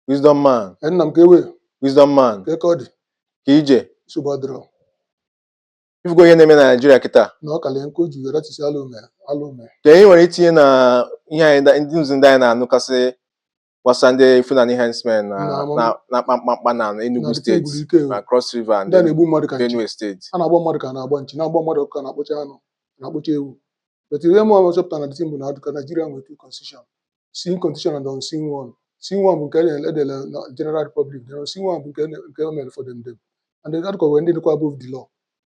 Wisdom man, Ee, nna m ka ewe wisdom man, kee ka ọ dị kee ije. nsogbu adịrọ Ifugo ihe na-eme na Naịjirịa kịta. na ọ kalie nke o ji wee ratisi ala ume ala ume Ka anyị nwere itinye na ihe anyị da- ndị nzi ndị anyị na-anụkasị gbasara ndị Fulani herdsmen na Na amam- na- na-akpa mkpamkpa na na Enugu dịka steeti e gburu ike o. na Cross River and ndị a na-egbu mmadụ ka nchi Benue steeti. a na-agba mmadụ ka a na-agba nchi na-agba mmadụ ọkụ ka a na-akpọcha anụ a na-akpọcha ewu but ihe mụwa chọpụtara na the thing bụ na ọ dị ka Naịjirịa nwere two constitution seen constitution and unseen one seen one bụ nke e nyere- e dere na general republic then unseen one bụ nke e nyere- nke o mere for them them and then article wee ndị dịkwa above the law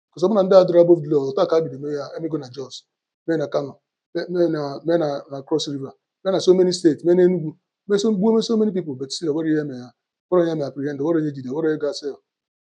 because ọ bụrụ na ndị a adịrọ above the law ọ teka e bido mee ya e mego na Jos mee na Kano mee mee na mee na na Cross River mee na so many states mee na Enugu mee so gbuo mee so many people but still o nwerọ ihe mee ya o nwerọ ihe mee apprehend o nwerọ ihe jide o nwerọ ihe ga cell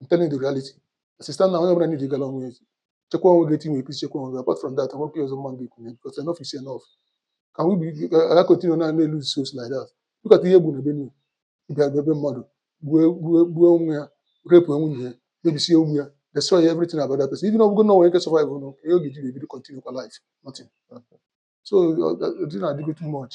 I'm telling you the reality as it stand now onye ọbụla need ịgala onwe ya ozi chekwa onwe gị etu ị nwere ike isi chekwa onwe gị apart from that enwekwa ihe ọzọ mụwa ga-ekwu ya because enough is enough kee ebe a ga continue na na lose souls like that look at ihe e gbu na Benue ị bịa bịa be mmadụ gbue gbue gbue onwe ya rape nwunye ya mebisie ụmụ ya destroy everything about that person even ọ bụgo na o nwe ike survive nụ kee ihe ọ ga-eji ga-ebido continue kwa life nothing so ọ- ọ- the thing adịgo too much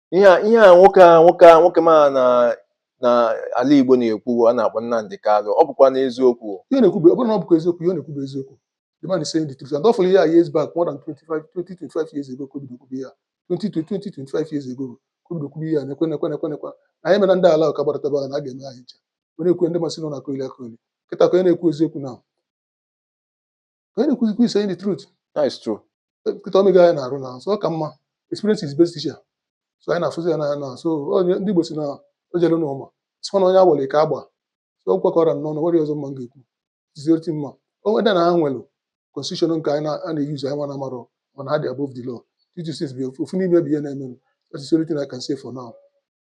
ihe a ihe a nwoke a nwoke a nwoke ma na na ala Igbo na-ekwu a na-akpọ Nnamdi Kanu ọ bụkwanụ eziokwu ihe ọ na-ekwube ọ bụrụ na ọ bụkwa eziokwu ihe ọ na-ekwube eziokwu the man is saying the truth and ọ fụrụ ihe a years back more than 25 20 25 years ago ka o bido kwube ihe a 20 20 25 years ago ka o bido kwube ihe a na-ekwu na-ekwu na-ekwu na-ekwu na anyị mere ndị ala ahụ ka gbadataba ahụ na a ga-eme anyị ncha ọ na-ekwu ndị mmadụ sị na ọ na-akọli akọli kịta kee onye na-ekwu eziokwu now ka anyị na-ekwuzikwa he's saying the truth that is true kịta o mego anyị n'arụ now so ọ ka mma experience is best teacher so anyị na-afụzi ya n'anya now so onye ndị Igbo si na o jere n'ụma sịkwa na onye agbara ike agba so ọ kwekọrọ nnọọ na nwere ọzọ mụwa ga-ekwu zioti mma onwe dị na ha nwere constitution nke anyị na- a na-use anyịnwa amarọ mana ha dị above the law tutu since bi ofu n'ime bụ ihe na-emenụ that is the only thing I can say for now